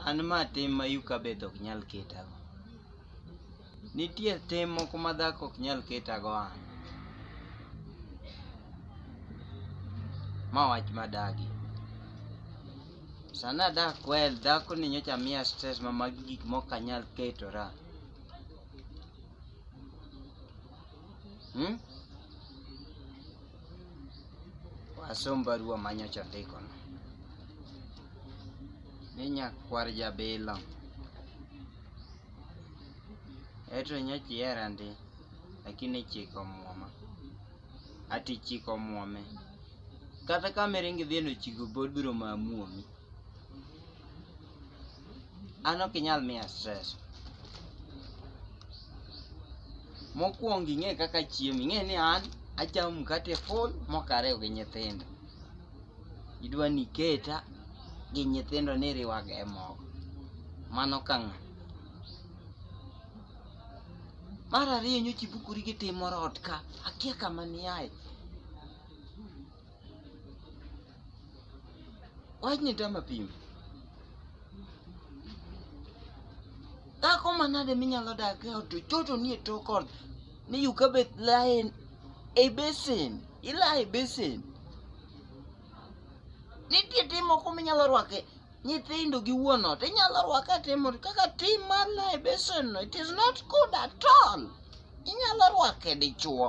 An ma tim ma yuka beth ok nyal ketago. Nitie tim moko ma dhako ok nyal ketago an. Ma wach madagi. Sana dak kwel dhako ni nyocha miya stress ma magi gik mok anyal ketora. Hmm? Asom barua manyocha ndikono ni nyakwar jabilo eto nyocha ihera ndi lakini ichiko omuoma ati ichiko omuome kata kama iringo idhi ni ochiko pod biro ma muomi An ok inyal miya stress. Mokwongo ing'e kaka achiemo, ing'e ni an achamo mkate full mok ariw gi nyithindo. Idwa ni iketa gi nyithindo ni iriwaga e mogo. Mano ka ng'a. Mar ariyo nyocha ibukori gi tim moro ot ka, akia kama niaye. Wach ni tama pim. Dhako manade minyalo dak e ot to choto nie tok ot ni you ka bet lain e basin, ilae e basin. Nitie tim moko minyalo rwake nyithindo gi wuon ot inyalo rwake atimo kaka tim mar lae basin no it is not good at all. Inyalo rwake dichuo.